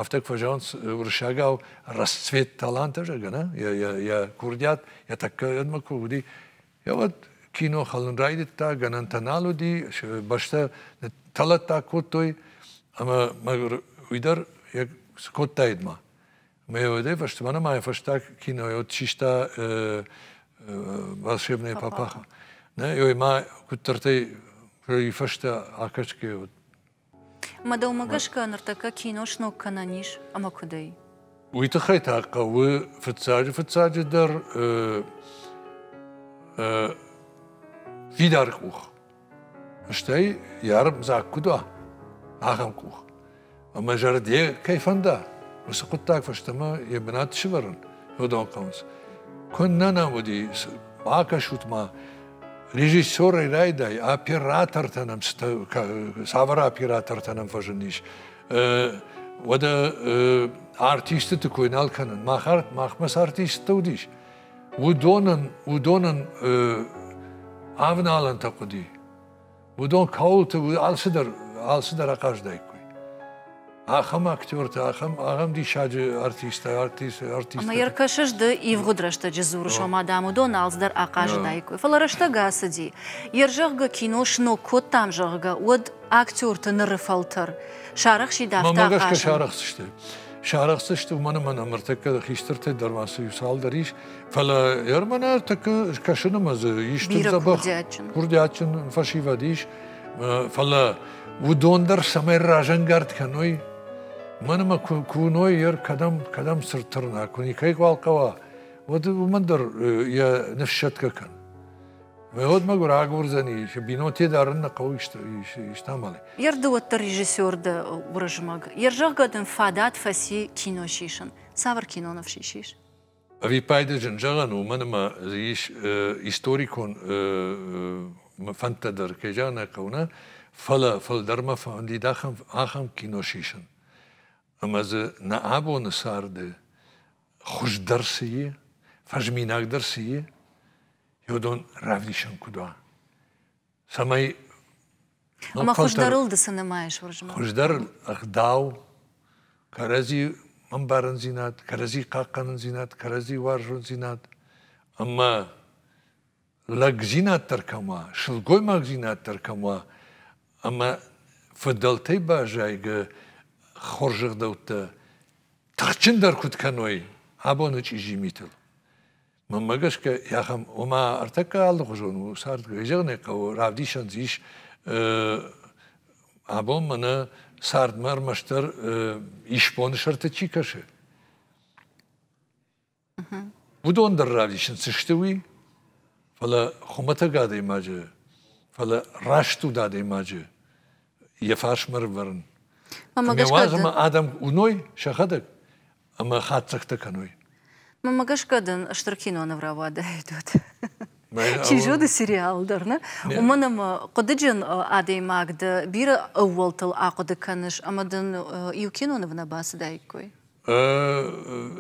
афтӕ куы фӕзӕгъынц уырыссагау расцвет таланта, зӕгъгӕ, нӕ? Йӕ, йӕ, йӕ курдиат йӕ тӕккӕ куы уыди. Йӕ уӕд кино хӕлын райдыдта, гӕнӕнтӕ нал уыди, бӕстӕ тӕлӕттаг кодтой, ӕмӕ мӕгуыр уый дӕр цы кодтаид ма. Меоде фӕстмӕнымайы фӕстаг кинойы вот систа э, э, волшебные папаха. Нӕ, ой, ма куыддӕртӕй и фӕстӕ акӕсгӕ вот.
Мадӕумӕ гӕсгӕ ныртӕккӕ кино сног кӕнӕн ис ӕмӕ куыдӕй? Уый тыххӕй та
хъӕуы фыццаджы фыццаджы дӕр э, э, фидар къух. Стӕй йӕ дзаг куыд уа, ахӕм къух. Ӕмӕ зӕрде кӕй фӕнда, уыцы хъуыддаг фӕстӕмӕ йӕ бынат сывӕрын уыдон хъӕуынц. Куыннӕ нӕм уыди, бакӕсут ма, режиссерӕй райдай, оператортӕ нӕм цавӕр оператортӕ нӕм фӕзындис, уӕдӕ артистыты кой нал кӕнын. Махмӕ цы артисттӕ уыдис, уыдонӕн уыдонӕн авналӕнтӕ хъуыди уыдон кӕуылты алцыдӕр алцыдӕр ахъазыдаиккой ахӕм актертӕ ахӕм ахӕм диссаджы артисттӕ артист артисттӕ ӕмӕ йӕ
ркӕсыс ды ивгъуыд рӕстӕджы дзурыс ома дам уыдон алцыдӕр ахъазыдаиккой фӕлӕ рӕстӕг ацыди йе рзӕгъгӕ кино сног кодтам зӕгъгӕ уӕд актерты ныры фӕлтӕр сарӕхсидавта мӕ гӕсгӕ сарӕхдзысты
Сарӕхдзысты уымӕн ӕмӕ нӕ мыртӕккӕ хистӕртӕй дӕр ма цы иу цалдӕр ис, фӕлӕ Ермӕнӕ тӕккӕ скӕсыны мӕ дзы ис тынг дзӕбӕх курдиатджын фӕсивӕд ис, фӕлӕ уыдон дӕр цӕмӕй разӕнгард кӕной, мӕн ӕмӕ куы уыной, ер кӕдӕм кӕдӕм цырд тырна, куы никӕй хъуал хъӕуа, уӕд уымӕн дӕр йӕ ныфссӕтгӕ кӕн. Выгодно рагурдзӕни, шы бинонтӕ дарын нӕ хъӕуы истамалы. Ерды уӕддӕр
режиссер дӕ Уырызмӕг. Йе рзӕгъгӕ дын фадат фӕци кино сисын. Цавӕр киноныв сисис? Ӕвиппайды
зын зӕгъӕн, уымӕн ӕмӕ дзы ис историкон фӕндтӕ дӕр, кӕй зӕгъын ӕй хъӕуы, фӕлӕ фылдӕрмӕ фӕндид ахӕм, ахӕм кино сисын. Ӕмӕ дзы нӕ абоны царды хуыздӕр цы и, фӕзминагдӕр цы и, феодон равдисӕн куыд уа. Цӕмӕй ну,
Ӕмӕ хуыздӕрыл дысы нымайыс Уырызмӕг? Хуыздӕр
ӕгъдау, кӕрӕдзи ӕмбарындзинад, кӕрӕдзи хъахъхъӕнындзинад, кӕрӕдзи уарзондзинад ӕмӕ лӕгдзинад дӕр кӕм уа, сылгоймагдзинад дӕр кӕм уа, ӕмӕ фыдӕлтӕй баззайгӕ хорзӕхдӕуттӕ тыхджындӕр куыд кӕной абоны чъизи митыл. Мӕнмӕ гӕсгӕ ахӕм, ома ӕртӕккӕ алыхуызон у цардгай. Зӕгъын ӕй хъӕуы, равдисӕн дзы ис абон мӕнӕ цардмӕ ӕрмӕстдӕр исбоны сӕрты чи кӕсы. Уыдон дӕр равдисынц сты уый, фӕлӕ хуымӕтӕг адӕймаджы, фӕлӕ раст уд адӕймаджы йӕ фарсмӕ рывӕрын. Ӕмӕ уадзӕмӕ адӕм уыной сӕхӕдӕг ӕмӕ хатдзӕгтӕ кӕной. Мӕ гӕсгӕ
дын стыр киноныв рауадаид уӕд. Чи зоны сериал дӕр, нӕ? Уымӕн ӕмӕ хъуыдыджын адӕймаг дӕ бирӕ ӕууӕлтыл ахъуыды кӕныс ӕмӕ дын иу киноныв нӕ бацыдаиккой.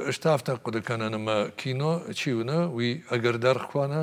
Ӕз
та афтӕ хъуыды кӕнын, ӕмӕ кино чи уына, уый ӕгӕр даргъ куы уана,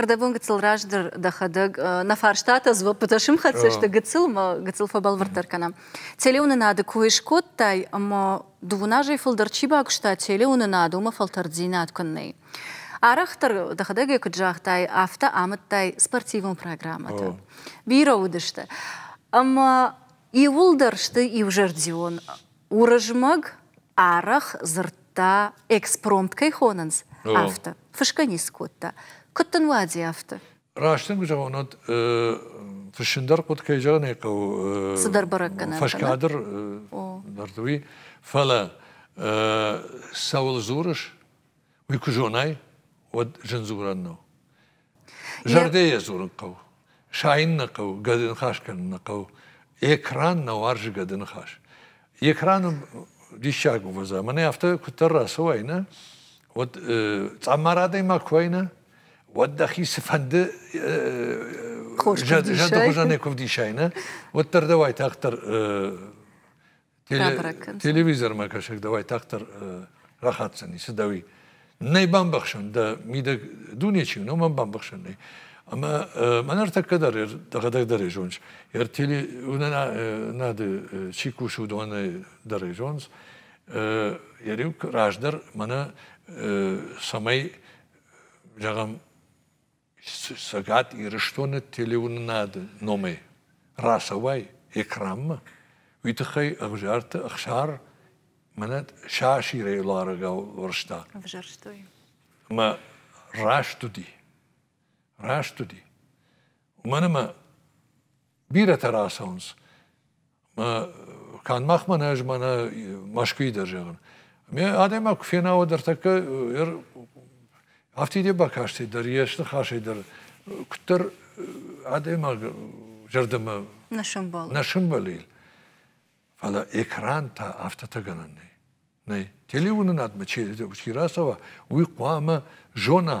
Ӕрдӕбон гыццыл раздӕр дӕхӕдӕг нӕ фарстатӕ дзуӕппытӕ сымхӕццӕ сты гыццыл мӕ гыццыл фӕбӕлвырддӕр кӕнӕм. Телеуынынады кой скодтай ӕмӕ дыууын азӕй фылдӕр чи багуыста телеуынынад, уымӕ фӕлтӕрддзинад куыннӕ и. Арӕхдӕр дӕхӕдӕг ӕй куыд загътай, афтӕ амыдтай спортивон программӕтӕ. Бирӕ уыдысты. Ӕмӕ иууылдӕр сты иузӕрдион Уырызмӕг арӕх дзырдта, экспромт кӕй хонынц, афтӕ. Фысгӕ ницы кодта. Куыд дын уади афтӕ? Раст дын куы зӕгъон,
уӕд фыссын дӕр хъуыд кӕй зӕгъын ӕй хъӕуы. Цыдӕр бӕрӕггӕнӕн.
Фӕскадр
дӕр уый. Фӕлӕ цӕуыл дзурыс, уый куы зонай, уӕд зын дзурӕн нӕу. Зӕрдӕйӕ дзурын хъӕуы, сайын нӕ хъӕуы, гӕды ныхас кӕнын нӕ хъӕуы. Экран нӕ уарзы гӕды ныхас. Экраны диссаг увӕдза. Мӕнӕ афтӕ куыддӕр рацӕуай, нӕ, уӕд цъаммар адӕймаг куы уай, нӕ, уӕд дӕхи цыфӕнды зӕды хуызӕнӕй куы вдисай, нӕ, уӕддӕр дӕ уайтагъддӕр телевизормӕ кӕсӕг дӕуӕй тагъддӕр рахатдзӕни, цы дӕуи. Нӕй бамбӕхсӕн, дӕ мидӕг дуне чи у, номӕн бамбӕхсӕн нӕй. Ӕмӕ мӕн ӕртӕккӕ дӕр дӕхӕдӕг дӕр зоныс. Ер телеуынынады чи кусы, уыдоны дӕр зоныс. Ериу раздӕр мӕнӕ цӕмӕй, зӕгъӕм, Цӕгат Ирыстоны телеуынынады номӕй рацӕуай экранмӕ, уый тыххӕй Ӕвзарты Ӕхсар мӕнӕ саасирӕй ларӕгау уарзта. Ӕвзӕрстой.
Ӕмӕ
раст уыди. Раст уыди. Уымӕн ӕмӕ бирӕтӕ рацӕуынц. Канд мах мӕнӕ ӕз мӕнӕ Мӕскуыйы дӕр зӕгъын. Ме адӕймаг куы фенауа дӕр тӕккӕ афтид йӕ бакастӕй дӕр, йӕ ныхасӕй дӕр куыддӕр адӕймаг зӕрдӕмӕ нӕ сӕмбӕл. Нӕ сӕмбӕлил. Фӕлӕ экран та афтӕтӕ гӕнӕн нӕй. Нӕй. Телеуынынадмӕ чи рацӕуа, уый хъуамӕ зона,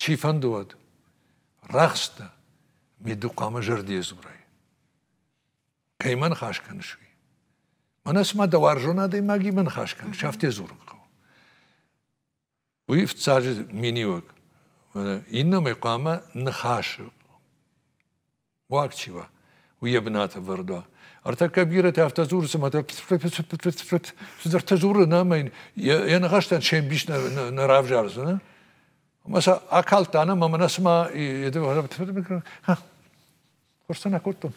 Чи фӕнды уӕд, рӕхстӕ, мидды хъуамӕ зӕрдийӕ дзурай. Кӕй мӕ ныхас кӕныс, уый? Мӕнӕ цыма дӕ уарзон адӕймагимӕ ныхас кӕныс, афтӕ дзурын хъӕуы. Уый фыццаджы миниуӕг. Иннӕмӕй хъуамӕ ныхасы уаг чи уа, уый йӕ бынаты ӕвӕрд уа. Ӕртӕккӕ бирӕтӕ афтӕ дзуры, цыма цыдӕртӕ дзуры, нӕ ӕмӕ йӕ ныхӕстӕн се мбис нӕ равзардзӕн. Ӕмӕ сӕ акалдта ӕнӕ ӕмӕ нӕ цыма хорзтӕ нӕ кодтон.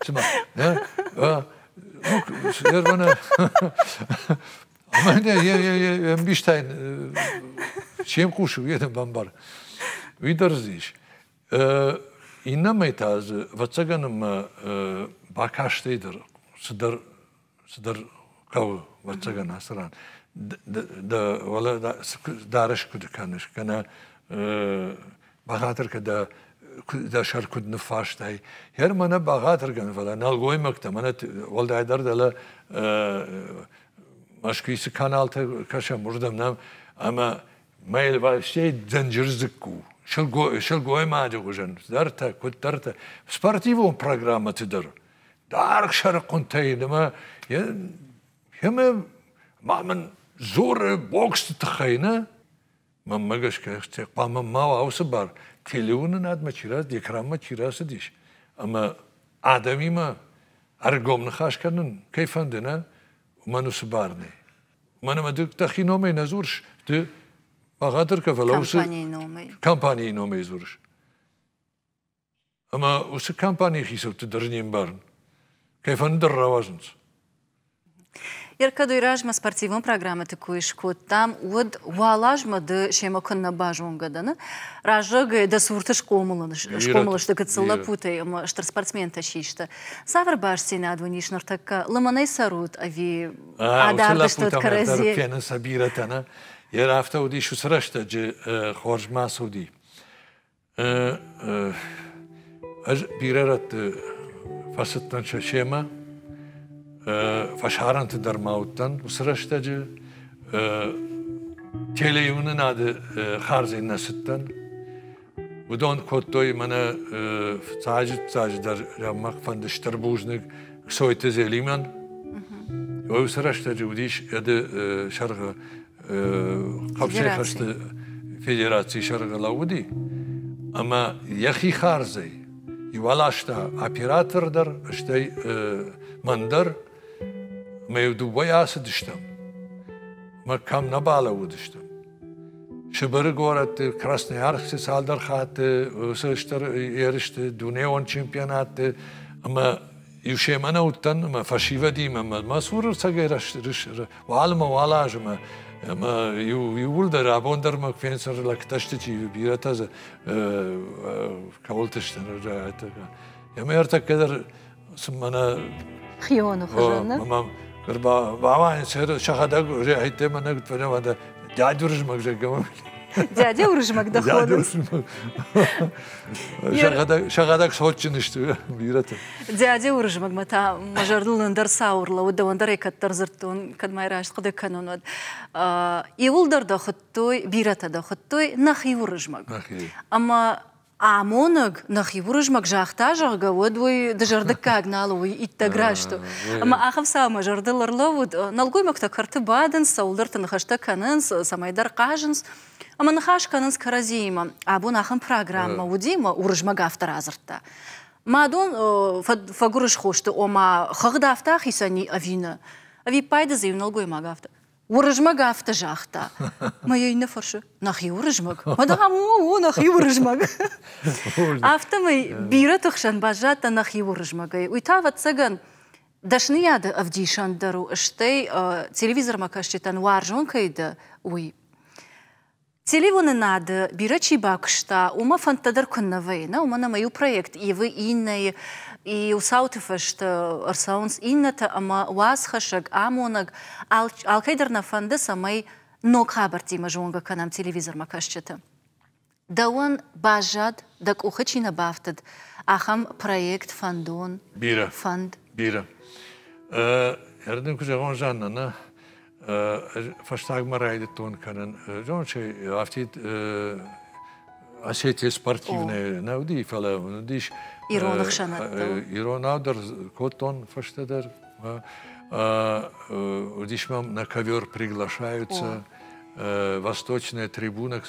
Цыма, ӕмӕ мбистӕй чем хъусы, уый бамбар. Уый дӕр ис. Иннӕмӕй та дзы, ӕвӕццӕгӕн, ӕмӕ бакастӕй дӕр цыдӕр цыдӕр хъӕуы, ӕвӕццӕгӕн, ацы ран. Дӕ уӕлӕ дарӕс куыд кӕныс, кӕнӕ бӕгъатыркӕ дӕ дӕ сӕр куыд ныффарстай. Хӕр мӕнӕ бӕгъатыргӕн, фӕлӕ нӕлгоймӕгтӕ, мӕнӕ уӕлдайдӕр дӕлӕ Мӕскуй цы каналтӕ кӕсӕм, уырдӕм нӕм, ӕмӕ Мӕ елвӕстӕй дӕнджыр дзыкку. Сылгоймаджы хуызӕн дӕртӕ, куыддӕртӕ. Спортивон программӕты дӕр. Даргъ сӕрыхъуынтӕй ӕмӕ ӕмӕ ма мын дзуры боксты тыххӕй нӕ. Мӕнмӕ гӕсгӕ хъуамӕ ма уа уыцы бар телеуынынадмӕ чи рацыд, экранмӕ чи рацыдис. Ӕмӕ адӕмимӕ ӕргом ныхас кӕнын кӕй фӕнды, нӕ? Уымӕн уыцы бар нӕй. Мӕнӕ мӕ дӕхи номӕй нӕ дзурыс, ды бӕгъатыр кӕ, фӕлӕ уыцы компанийы номӕй компанийы номӕй дзурыс. Ӕмӕ уыцы компанийы хицӕутты дӕр не мбарын. Кӕй фӕндыр рауадзынц.
Еркадой размӕ спортивон программӕты кой скодтам, уӕд уӕлазмӕ ды семӕ куыннӕ базонгӕ дӕны, раззагӕй дӕ цурты схъомыл, схъомыл сты гыццыл лӕппутӕй ӕмӕ стыр спортсментӕ систы. Цавӕр бастдзинад уын ис ныртӕккӕ? Лымӕнӕй цӕрут ӕви адардыстут кӕрӕдзи. кӕны сӕ бирӕтӕ
нӕ, йе афтӕ уыдис уыцы рӕстӕджы хорз ма цуди. Ӕз бирӕ рӕтты фӕцыдтӕн сӕ семӕ, фӕсарӕнты дӕр ма уыдтӕн уыцы рӕстӕджы. Телеуынынады хардзин нӕ цыдтӕн, Уыдон кодтой мӕнӕ цаджы-цаджыдӕр фӕнды стыр бузныг Ксойты Зелимӕн. Уый уыцы рӕстӕджы уыдис ӕды сӕргъы хъӕбсӕй хӕсты федерацийы сӕргъы лӕууыди. Ӕмӕ йӕхи хардзӕй иуаласта оператор дӕр, стӕй мӕн дӕр, мӕ дыууӕйӕ ацыдыстӕм. Мӕ кӕм нӕ балӕууыдыстӕм. Сыбыры горӕтты, Красноярскы цалдӕр хатты уыцы стыр ерысты дунеон чемпионатты ӕмӕ иу семӕ нӕ уыдтӕн ӕмӕ фӕсивӕдимӕ ӕмӕ мӕ цур ӕрцӕгӕй уал уал аз ӕмӕ ӕмӕ иууылдӕр абон дӕр мӕ фенсӕр лӕгтӕ сты чи бирӕтӕ дзы кӕуылты сты ӕмӕ ӕртӕккӕ дӕр Хионы
хуызӕн.
Бабаня шахадак уже айтты мана прямо дядя Уржмак же Дядя
Уржмак доходный.
Шахадак сочынышты бираты. Дядя Уржмак
ма та мажарлын ӕндӕр саурлы уд ӕндӕр кӕддӕр дзырдтон, кӕд май раст хъуыды кӕнон уӕд. Иуылдӕр дӕ хуыдтой, бирӕтӕ дӕ хуыдтой нахи Уржмак. Ӕмӕ Амонӕг нӕхи Уырызмӕг загъта, зӕгъгӕ, уӕд уый дызӕрдыггаг нал у, уый иттӕг раст у. Ӕмӕ ахӕм цаумӕ зӕрдыл ӕрлӕууыд, нӕлгоймӕгтӕ кӕрты бадынц, цӕуылдӕрты ныхӕстӕ кӕнынц, цӕмӕйдӕр хъазынц ӕмӕ ныхас кӕнынц кӕрӕдзиимӕ. Абон ахӕм программӕ уыди ӕмӕ Уырызмӕг афтӕ радзырдта, Мӕ дон фӕгуырысхосты, ома хыгъд афтӕ ахицӕн и ӕви нӕ? Ӕвиппайды дзы иу нӕлгоймаг афтӕ. Уырызмӕг афтӕ загъта, мӕ йӕ иннӕ фӕрсы, нӕхи Уырызмӕг? Мадам, о, о, нӕхи Уырызмӕг. Афтӕмӕй бирӕты хсӕн баззадтӕ нӕхи Уырызмӕгӕй. Уый та, ӕвӕццӕгӕн, дӕсныйады ӕвдисӕн дӕр у, стӕй телевизормӕкӕсджытӕн уарзон кӕй дӕ, уый. Телеуынынады бирӕ чи бакуыста, уымӕ фӕндтӕ дӕр куыннӕ вӕййы, нӕ? Уымӕн ӕмӕ иу проект ивы иннӕйы, иу цауты фӕстӕ ӕрцӕуынц иннӕтӕ ӕмӕ уацхӕссӕг, амонӕг алкӕй дӕр нӕ фӕнды, цӕмӕй ног хабӕрттимӕ зонгӕ кӕнӕм телевизормӕ кӕсджыты. Дӕуӕн баззад, дӕ къухы чи нӕ бафтыд, ахӕм проект, фӕндон, бирӕ
фӕнд? Бирӕ. Ӕрдын куы зӕгъон, Жанна, нӕ фӕстагмӕ райдыдтон кӕнын зонын афтид осетия спортивная нӕ уыди фӕлӕ уыдис ирон
ӕхсӕнадтыл иронау дӕр
кодтон фӕстӕдӕр уыдис мӕм на ковер приглашаются восточная трибуна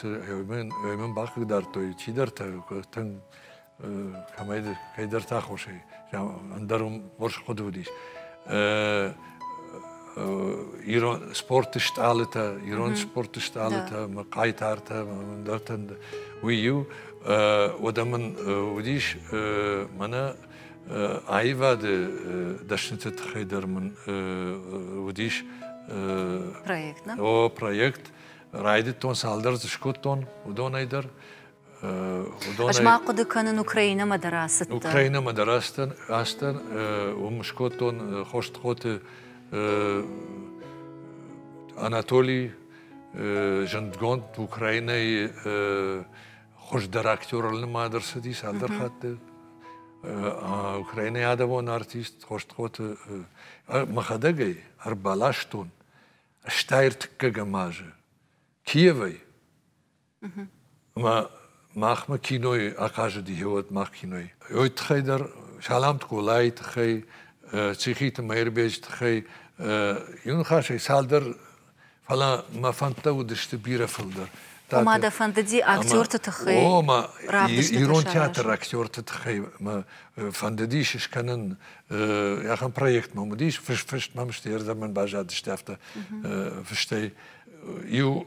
мын бахъыгдардтой чидӕртӕ тынг кӕмӕй кӕйдӕрты аххосӕй ӕндӕр хорз хъуыды уыдис ирон спорты стъалытӕ, ирон спорты стъалытӕ, мӕ хъайтартӕ, ӕндӕртӕ, уый иу. Уӕдӕ мын уыдис мӕнӕ аивады дӕсныты тыххӕй дӕр мын уыдис
проект. О, проект.
Райдыдтон цалдӕр дзы скодтон уыдонӕй дӕр.
Ӕз ма хъуыды кӕнын Украинамӕ дӕр ацыдтӕн. Украинамӕ дӕр ацыдтӕн,
ацыдтӕн уым скодтон Хостхоты Анатолий зындгонд Украинайы хуыздӕр актеры нымад ӕрцыди цалдӕр хатты. Украинайы адӕмон артист Хостхоты мӕхӕдӕг ӕй ӕрбаластон. Стайыр тыккӕгӕм азы Киевӕй. Ӕмӕ махмӕ кинойы ахъазыди Еуӕд мах кинойы. Уый тыххӕй дӕр Саламты Къулайы тыххӕй, Цихиты Мӕирбеджы тыххӕй, иу ныхасӕй, цалдӕр, фӕлӕ мӕ фӕндтӕ уыдысты бирӕ фылдӕр. Ома дӕ фӕндыди
актерты тыххӕй ома
ирон театры актерты тыххӕй мӕ фӕндыдис скӕнын ахӕм проект ном уыдис фыст мӕм стӕй ӕрдӕмӕн баззадысты афтӕ фыстӕй иу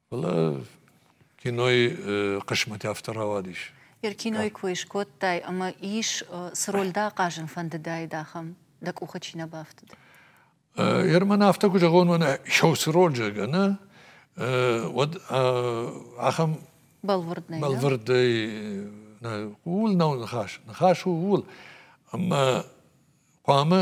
Фӕлӕ кинойы хъысмӕт афтӕ рауадис. Йӕ кинойы кой
скодтай ӕмӕ ис цы роль дӕ ахъазын фӕндыдаид ахӕм, дӕ къухы чи нӕ бафтыд?
Ерман афтӕ куы зӕгъон, уӕнӕ исӕусы роль зӕгъгӕ нӕ, уӕд ахӕм бӕлвырдӕй бӕлвырдӕй нӕ ууыл nav ныхас. Ныхас у ууыл, ӕмӕ хъуамӕ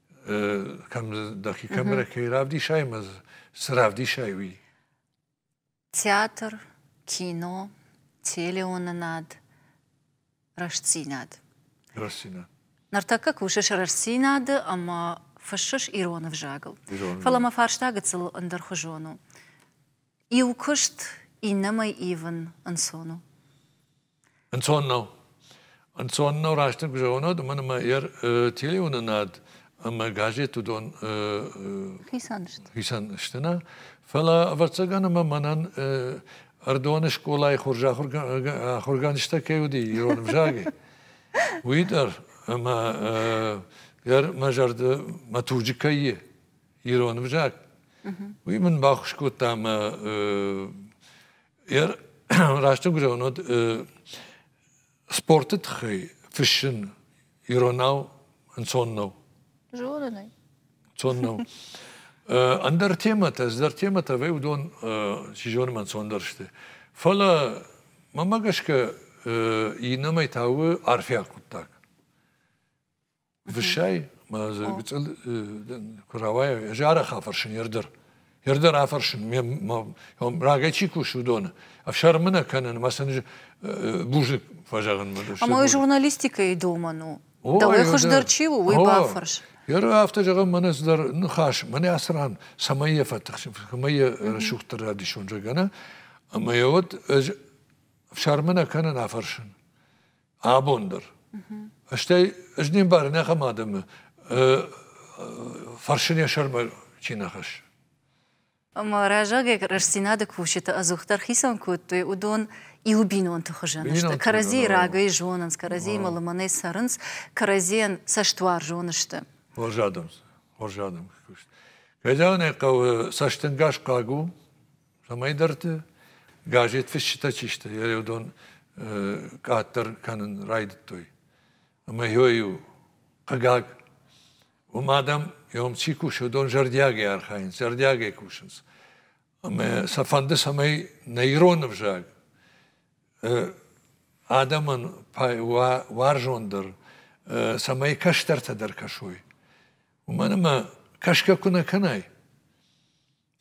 дӕхи камерӕ кӕй равдисай ӕмӕ цы равдисай уый
театр кино телеуынынад рӕстдзинад рӕстдзинад
ныртӕккӕ
кусыс рӕстдзинады ӕмӕ фыссыс ирон ӕвзагыл фӕлӕ мӕ фарста гыццыл ӕндӕрхуызон у иу куыст иннӕмӕй ивын ӕнцон у Ӕнцон нӕу.
Ӕнцон нӕу раст куы зӕгъон, уымӕн ӕмӕ йӕ телеуынынад ӕмӕ газет уыдон хицӕн сты. хицӕн сты нӕ. Фӕлӕ ӕвӕццӕгӕн ӕмӕ мӕнӕн Ӕрдоны скъолайы хорз ахуыргӕнджытӕ кӕй уыди ирон ӕвзагӕй, уый дӕр ӕмӕ дӕр мӕ зӕрды мӕ туджы кӕй и ирон ӕвзаг. Уый мын баххуыс кодта мӕ Йӕ рӕстӕггурӕн уыд спорты тыххӕй фыссын иронау ӕнцон нӕу.
Зонын ӕй. Цон нӕу.
Ӕндӕр темӕтӕ, ӕндӕр темӕтӕ вӕй уыдон, чи зоны, ӕнцондӕр сты. Фӕлӕ, мӕнмӕ гӕсгӕ, иннӕмӕй та у арфӕйаг хъуыддаг. Высӕй мӕ дзы гыцъыл куы рауайы, ӕз арӕх афӕрсын йе рдӕр. Йе рдӕр афӕрсын, ме рагӕй чи кусы, уыдоны. Ӕфсӕрмы нӕ кӕнын, мӕ сын бузныг фӕзӕгъынмӕ. А мой журналистикӕйы
домӕн у. Дӕуӕй хуыздӕр чи у, уый бафӕрс. Йе ры афтӕ зӕгъын,
мӕнӕ цыдӕр ныхас, мӕнӕ ацы ран, цӕмӕй йӕ фӕтыхсын, цӕмӕй йӕ рӕсугъддӕр радисон зӕгӕна. Ӕмӕ йӕ уӕд ӕз ӕфсӕрмы нӕ кӕнын афӕрсын. абон дӕр. Стӕй ӕз не мбарын ахӕм адӕмы фӕрсын йӕ сӕрмӕ чи нӕ хӕссы.
Ӕмӕ разагӕй рӕстдзинады кусджыты ӕдзухдӕр хицӕн кодтой уыдон иу бинонты хуызӕн сты. Кӕрӕдзийы рагӕй зонынц, кӕрӕдзиимӕ лымӕнӕй цӕрынц, кӕрӕдзийӕн
цӕстуарзон
сты. Хорз адӕм сты, хорз
адӕм куыст. Кӕдӕн хъӕуы цӕстӕнгас хъаг у, цӕмӕйдӕрты газет фысджытӕ чи сты, йӕ уыдон къаддӕр кӕнын райдыдтой. Ӕмӕ йой у, хъыгаг, уым адӕм, иом чи кусы, уыдон зӕрдиагӕй архайынц, зӕрдиагӕй кусынц. Ӕмӕ сӕ фӕнды, цӕмӕй нӕ ирон ӕвзаг адӕмӕн уарзондӕр, цӕмӕй кӕстӕртӕ дӕр кӕсой. Уымӕн ӕмӕ кӕсгӕ куы нӕ кӕнай,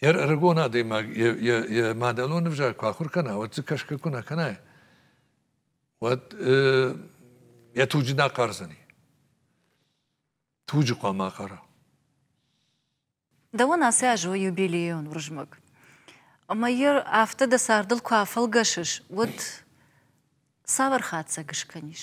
йӕ ӕрыгон адӕймаг йӕ, йӕ, йӕ мадӕлон ӕвзаг куы ахуыр кӕна, уӕд дзы кӕсгӕ куы нӕ кӕна, уӕд э, йӕ туджы нӕ ахъардзӕни. Туджы хъуамӕ ахъара.
Дӕуӕн ацы аз у юбилейон Уырызмӕг. Ӕмӕ йӕ афтӕ дӕ цардыл куы афӕлгӕсыс, уӕд цавӕр хатдзӕг скӕнис?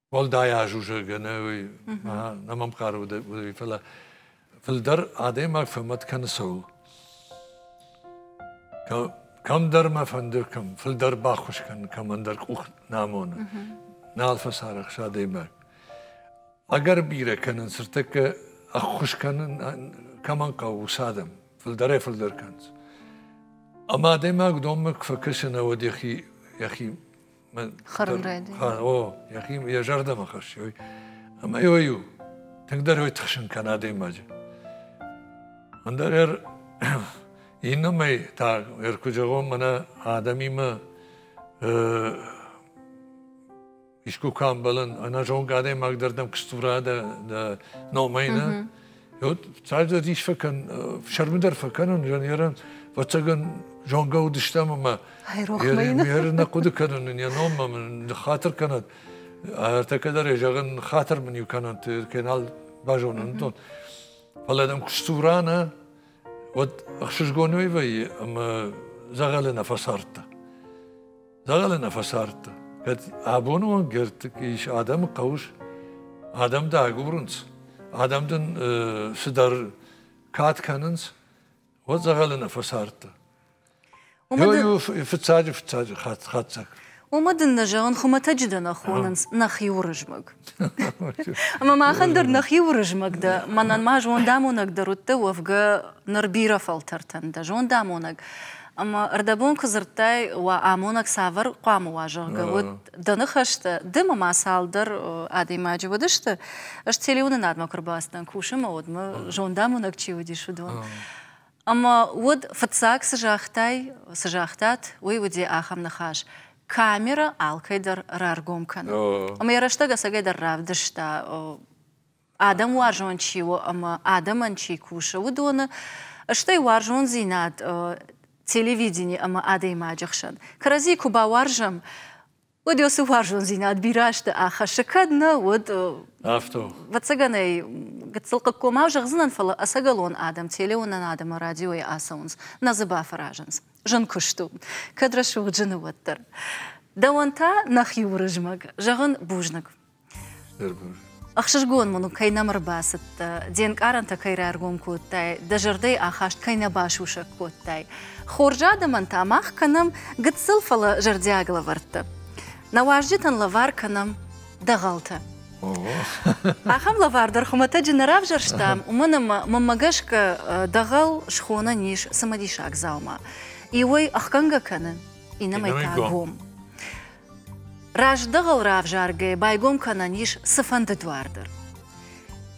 уӕлдай азузӕг ӕнӕ нӕ мӕм хъары уыдӕй, фӕлӕ фылдӕр адӕймаг фӕмӕт кӕны цӕуыл. Кӕмдӕр мӕ фӕнды, кӕм фылдӕр баххуыс кӕн, кӕмӕн дӕр къух нӕ амоны. Нал фӕцарӕхс адӕймаг. Ӕгӕр бирӕ кӕнын, цыртӕккӕ ӕххуыс кӕнын кӕмӕн хъӕуы, уыцы адӕм фылдӕрӕй фылдӕр кӕнынц. Ӕмӕ адӕймаг уыдонмӕ куы фӕкӕсы, науӕд йӕхи, йӕхи Хӕрын
райдайын. О, йӕхи
йӕ зӕрдӕмӕ хӕссой. Ӕмӕ ой у, тынгдӕр ой тыхсын кӕн адӕймаджы. Ӕндӕр ӕр иннӕмӕй та ӕр куы зӕгъон мӕнӕ адӕмимӕ искуы куы амбӕлын, ӕнӕзонгӕ адӕймаг дӕр дӕм кыстура дӕ, дӕ номӕй нӕ, уӕд цалдӕр ис фӕкӕн, сӕрмыдӕр фӕкӕнон жанерӕн, ӕвӕццӕгӕн зонгӕ уыдыстӕм ӕмӕ йӕ нӕ хъуыды кӕнын, йӕ номмӕ мын ныххатыр кӕнӕд. Ӕртӕкӕ дӕр йӕ зӕгъын, хатыр мын иу кӕнӕнт, кенал базонын, дон. Фӕлӕ дӕм куы сдзура нӕ, уӕд ӕхсызгон уӕй вӕййы ӕмӕ дзӕгъӕлы нӕ фӕцардтӕ. Дӕгъӕлы нӕ фӕсардта. Кӕд абоны онг ӕртыкк ис адӕмы хъӕуыс, адӕм дӕ агурынц, адӕм дын цыдӕр кад кӕнынц, уӕд дзӕгъӕлы нӕ фӕсардта. Уымӕ фыццаджы фыццаджы хатдзӕг. Уымӕ дын нӕ
зӕгъын, хуымӕтӕджы дӕ нӕ хонынц, нӕхи Уырызмӕг. Ӕмӕ махӕн дӕр нӕхи Уырызмӕг дӕ, мӕнӕн ма зондамонӕг дӕр уыдтӕ уӕвгӕ ныр бирӕ фӕлтӕртӕн дӕ зондамонӕг. Ӕмӕ ӕрдӕбон куы дзырдтай, уӕ амонӕг цавӕр хъуамӕ уа, зӕгъгӕ, уӕд дӕ ныхӕстӕ ды мӕ цалдӕр адӕймаджы уыдысты. Ӕз телеуынынадмӕ куы рбацыдӕн, кусын мӕ уӕдмӕ, зондамонӕг чи уыдис, уыдон. Ӕмӕ уӕд фыццаг цы загътай, цы загътат, уый уыди ахӕм ныхас, камерӕ алкӕй дӕр раргом кӕны. Ӕмӕ йӕ рӕстӕг ӕцӕгӕйдӕр равдыста, адӕм уарзон чи у ӕмӕ адӕмӕн чи кусы, уыдоны, стӕй уарзондзинад телевидени ӕмӕ адӕймаджы хсӕн. Кӕрӕдзи куы бауарзӕм, уӕд уыцы уарзондзинад бирӕ азты ахӕссы кӕд нӕ уӕд афтӕ
ӕвӕццӕгӕн ӕй
гыццыл хъыггомау зӕгъдзынӕн фӕлӕ ӕцӕгӕлон адӕм телеуынӕн адӕмы радиойы ацӕуынц нӕ дзы бафӕразынц зын куыст у кӕд рӕсугъд зыны уӕддӕр дӕуӕн та нӕхи уырызмӕг зӕгъын бузныг Ӕхсызгон мын у, кӕй нӕм ӕрбацыдтӕ, де нкъарӕнтӕ кӕй раргом кодтай, дӕ зӕрдӕйы ахаст кӕй нӕ басусӕг кодтай. Хорз адӕмӕн та мах кӕнӕм гыццыл, фӕлӕ зӕрдиаг лӕвӕрттӕ. Нӕ уазджытӕн лӕвар кӕнӕм дӕгъӕлтӕ. Ахӕм лӕвар дӕр хуымӕтӕджы нӕ равзӕрстам, уымӕн ӕмӕ мӕнмӕ гӕсгӕ дӕгъӕл схонӕн ис цымыдисаг дзаума. Иуӕй ӕхгӕнгӕ кӕны, иннӕмӕй та гом. Раздӕгыл равзаргӕ байгом кӕнӕн ис цыфӕнды дуар дӕр.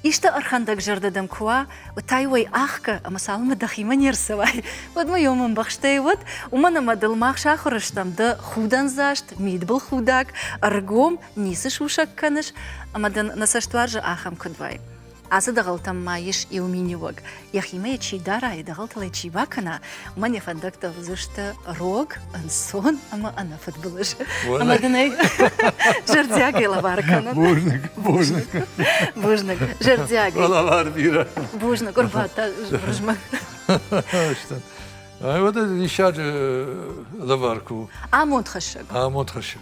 Исты ӕрхӕндӕгзӕрдӕ дӕм куы уа, уӕд уӕй ӕхгӕ ӕмӕ цалынмӕ дӕхимӕ не рцӕуай, уӕдмӕ ем ӕмбӕхстӕй уӕд, уымӕн ӕмӕ дыл мах сахуыр стӕм дӕ худӕндзаст, мидбылхудӕг, ӕргом, ницы сусӕг кӕныс, ӕмӕ дын нӕ цӕстуарзы ахӕм куыд уай. Ацы дӕгъӕлтӕм ма ис иу миниуӕг. Йӕхимӕ йӕ чи дара, йӕ дӕгъӕлтыл йӕ чи бакӕна, уымӕн йӕ фӕндӕгтӕ уыдзысты рог, ӕнцон ӕмӕ ӕнӕфыдбылыз. Ӕмӕ дын ӕй зӕрдиагӕй лӕвар кӕнӕд. Бузныг, бузныг. Бузныг, зӕрдиаг. Лӕвар бирӕ.
Бузныг, ӕрбадта
Уырызмӕг. Уӕдӕ
диссаджы лӕвар куы
у.
Амондхӕссӕг. Амондхӕссӕг.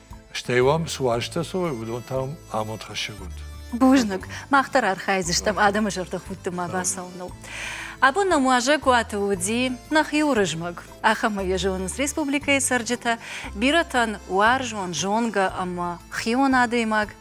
Стӕй уӕм цы уӕзтӕ цӕуой, уыдон та амонд хӕссӕг уыд. Бузныг.
Мах дӕр архайдзыстӕм адӕмы зӕрдӕхудты ма бацауыныл. Абон нӕм уазӕгуаты уыди нӕхи Уырызмӕг. Ахӕм ма йӕ зонынц республикӕйы цӕрджытӕ, бирӕтӕн уарзон, зонгӕ ӕмӕ хион адӕймаг